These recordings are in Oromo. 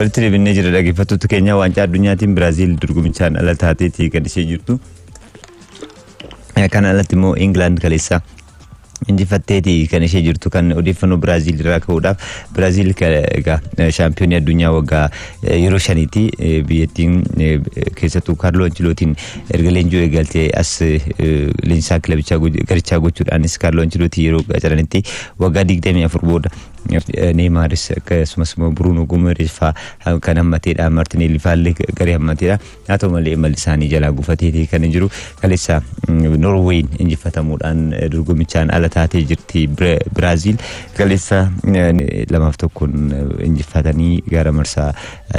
Walitti deebinnee jira dhaggeeffattoota keenya waancaa addunyaatiin Biraaziil dorgomichaan ala taateeti kan ishee jirtu. Kan alatti immoo Ingilaand kaleessa injifatteeti kan ishee jirtu kan odeeffannoo Biraaziil irraa ka'uudhaaf Biraaziil egaa shaampiyoonii addunyaa waggaa yeroo shaniiti biyyattiin keessattuu Kaarloo Anchilootiin erga leenjuu eegaltee as leenjisaa kilabichaa garichaa gochuudhaanis Kaarloo Anchilootii yeroo qacaranitti waggaa 24 booda Neemaaris akkasumas immoo Buruunoo Gumeeris fa'aa kan hammateedha. Martineelli fa'aallee garee hammateedha. Haa ta'u malee imalli isaanii jalaa gufateetii kan jiru kaleessa Norweeyin injifatamuudhaan dorgomichaan ala taatee jirti Biraaziil. Kaleessa lamaaf tokkoon injifatanii gara marsaa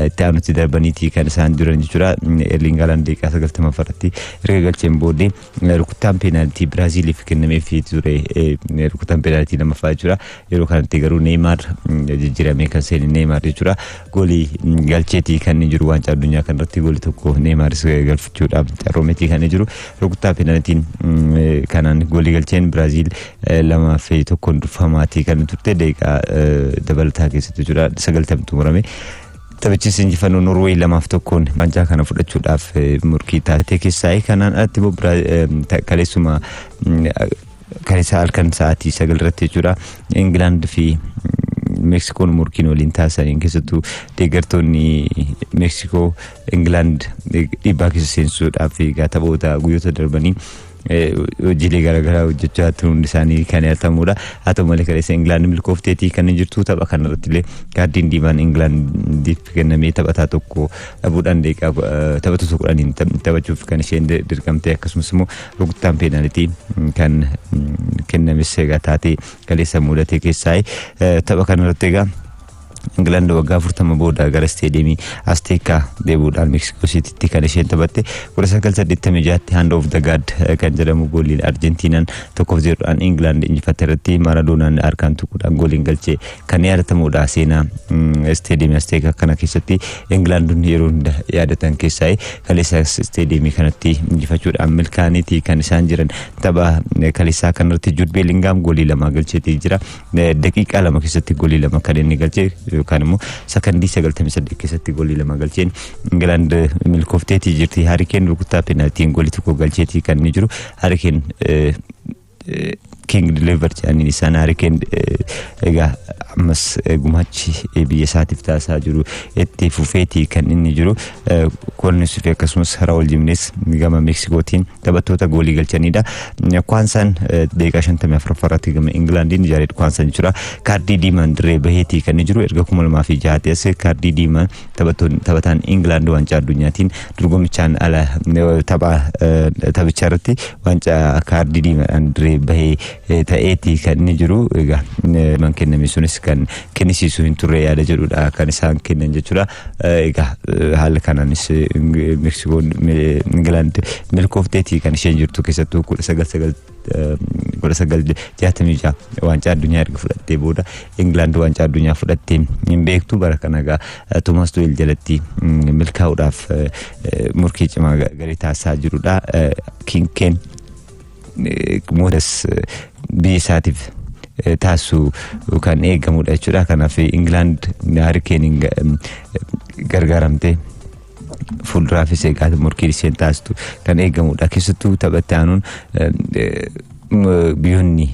itti aanutti darbaniitii kan isaan duran jechuudha. Erling Haaland daqiiqaa sagaltama irratti erga galcheen booddee Rukuttaan peenaaltii Biraaziiliif kennameef ture rukuttaan peenaaltii lammaffaa jechuudha. Yeroo kanatti garuu Neeymaar jijjiiramee kan seene Neeymaar jechuudha. Goolii galcheetii kan inni jiru waancaa addunyaa kanarratti goolii tokko Neeymaaris galfachuudhaaf carroomeetii kan inni jiru. Rukuttaa peenaaltiin kanaan goolii galcheen Biraaziil lamaa fi tokkoon durfamaatii kan turte daqiiqaa dabalataa keessatti jechuudha. Sagaltamtu murame. Taphichis injifannoo Norweey lamaaf tokkoon waancaa kana fudhachuudhaaf morkii taasisee keessaayi. Kanaan alatti immoo kaleessuma kaleessa halkan sa'aatii sagal irratti jechuudha. Ingilaand fi Meeksikoon morkiin waliin taasisaniin keessattuu deeggartoonni Meeksikoo Ingilaand dhiibbaa keessa seensuudhaaf egaa taphoota guyyoota darbanii hojiilee garaagaraa hojjechaa turuun isaanii kan yaadatamudha. Haa ta'u malee kaleessa Ingilaand milkoofteetii kan jirtu tapha kanarratti illee kaardiin diimaan Ingilaandiif kennamee taphataa tokko dhabuudhaan deeqaa taphattoota kudhaniin taphachuuf kan isheen dirqamte akkasumas immoo rukuttaan peenaalitii kan kennames egaa taatee kaleessa mudatee keessaa tapha kanarratti egaa Ingilaand waggaa 40 booda gara isteediyeemii Asteekaa deebi'uudhaan Meeksikoo Siitiitti kan isheen taphatte 1986tti Hand of the God kan jedhamu gooliin Arjentiinaan 1-0dhaan Ingilaand injifatte irratti Maaradoonaan harkaan tuquudhaan gooliin galchee kan yaadatamudha. Seenaa isteediyeemii Asteekaa kana keessatti Ingilaandonni yeroo hunda yaadatan keessaa kaleessaas isteediyeemii kanatti injifachuudhaan milkaa'aniiti kan isaan jiran. Tapha kaleessaa kanarratti Juud Beelingaam goolii lama galcheetii jira. daqiiqaa lama keessatti golii lama kan inni galchee yookaan immoo sakandii sagaltamii saddeet keessatti golii lama galcheen Ingilaand milkoofteetii jirti Harikeen rukuttaa peenaaltiin golii tokko galcheetii kan inni jiru Harikeen King Deliver jedhaniin isaan Harikeen egaa ammas gumaachi biyya isaatiif taasisaa jiru itti fufeetii kan inni jiru Koolniis fi akkasumas Raawul Jimnees gama Meeksikootiin taphattoota goolii galchanidha. Kwaansaan daqiiqaa shantamii afuraffaa irratti gama Ingilaandiin Jaareed Kwaansaan jechuudha. Kaardii diimaan dirree baheetii kan jiru erga kuma lamaa fi jahaatti as kaardii diimaan taphataan Ingilaand waancaa addunyaatiin dorgomichaan ala tapha taphicha irratti waancaa kaardii diimaadhaan dirree bahee ta'eetii kan inni jiru egaa man kenname sunis kan kennisiisu hin turre yaada jedhudha kan isaan kennan jechuudha. Egaa haala kanaanis Meksikoon Ingilaand milkoofteetii kan isheen jirtu keessattuu kudha sagal sagal kudha sagal jaatamii ja'a waancaa addunyaa erga fudhattee booda Ingilaand waancaa addunyaa fudhattee hin beektu bara kana egaa Toomaas Tuweel jalatti milkaa'uudhaaf morkii cimaa garee taasisaa jirudha. Kinkeen moodas biyya isaatiif taasisu kan eegamudha jechuudha. Kanaaf Ingilaand Harikeeniin gargaaramtee fuulduraafis egaa morkii isheen taasistu kan eegamudha. Keessattuu taphatti aanuun biyyoonni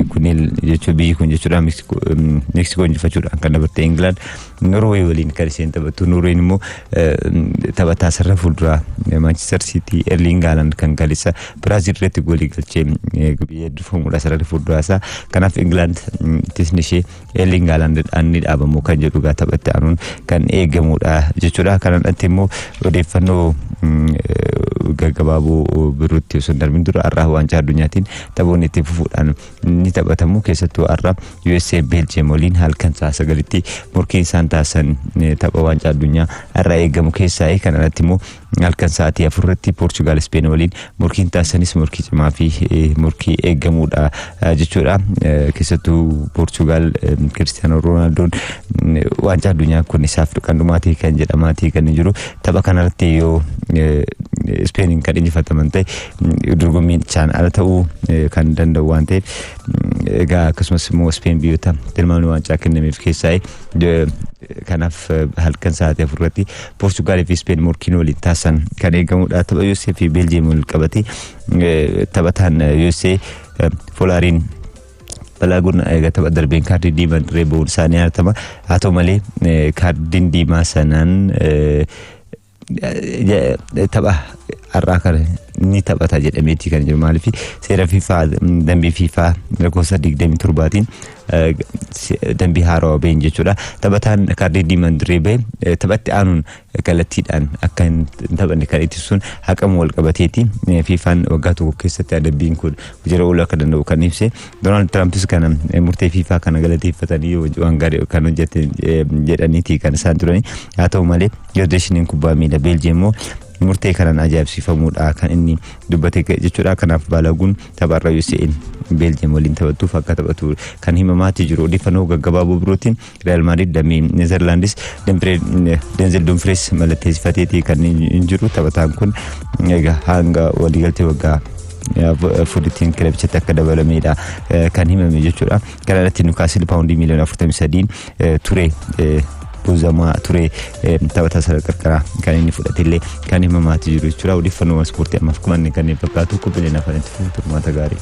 kunneen jechuun biyyi kun jechuudha Meeksikoo injifachuudhaan kan dabartee Ingilaand Norway waliin kan isheen taphattu. Norway immoo taphataa sarara fuulduraa Manchester City Erling Haaland kan kaleessa Biraazil irratti goolii galchee biyya durfamuudha sarara fuulduraa isaa. Kanaaf Ingilaand tisni ishee Erling Haalandidhaan ni dhaabamu kan jedhu egaa taphatti aanuun kan eegamudha jechuudha. Kanaan alatti immoo odeeffannoo gaggabaaboo birootti osoo hin darbin dura har'aa waancaa addunyaatiin taphoonni itti fufuudhaan ni taphatamu keessattuu har'a USA Beeljiyeem waliin halkan sa'a sagalitti morkiin isaan taasisan tapha waancaa addunyaa har'a eegamu keessaa kan alatti immoo halkan sa'aatii afurratti Poorchugaal Ispeen waliin morkiin taasisanis morkii cimaa fi morkii eegamudha jechuudha keessattuu Poorchugaal Kiristiyaanoo Roonaaldoo waancaa addunyaa kun isaaf kan dhumaatee kan jedhamaatii kan jiru tapha kanarratti yoo Ispeeniin kan injifataman ta'e dorgommiichaan ala ta'uu kan danda'u waan ta'eef egaa akkasumas immoo Ispeen biyyoota tilmaamni waancaa kennameef keessaa kanaaf halkan sa'aatii afur irratti Poorchugaalii fi Ispeen morkiin waliin taasisan kan eegamudha. Tapha USA fi Beeljiyeem wal qabate taphataan USA Folaariin balaa gurna egaa tapha darbeen kaardii diimaan reebuun isaanii haatama haa ta'u malee kaardiin diimaa sanaan tapha har'aa kana ni taphata jedhameetii kan jiru maaliif seera fiifaa dambii fiifaa lakkoofsa digdamii torbaatiin dambii haarawa ba'een jechuudha taphataan kaardii diimaan dirree ba'e taphatti aanuun kallattiidhaan akka hin taphanne kan ittisuun haqama wal qabateeti fiifaan waggaa tokko keessatti adabbiin kun jira ooluu akka danda'u kan ibse Doonaald Tiraampis kana murtee fiifaa kana galateeffatanii waan gaarii kan hojjete jedhaniiti kan isaan turani. Haa ta'u malee Federeeshiniin Kubbaa Miilaa Beeljiyeem immoo murtee kanaan ajaa'ibsiifamuudha kan inni dubbate jechuudha. Kanaaf Baalaguun tapha irra UCL Beeljiyeem waliin taphattuuf akka taphatu kan himamaati jiru. Odeeffannoo gaggabaaboo birootiin Real Madrid damee Netherlands Denzel Dumfries mallatteessifateeti kan jiru taphataan kun egaa hanga waliigaltee waggaa fudhitiin kilabichatti akka dabalamedha kan himame jechuudha. Kana irratti Newcastle paawundii miiliyoona 43 ture buuzamaa ture taphataa sana qarqaraa kan inni fudhatellee kan himamaati jiru jechuudha. Odeeffannoo ispoortii ammaaf kumanne kanneen fakkaatu qophiileen afaan itti fufu turmaata gaarii.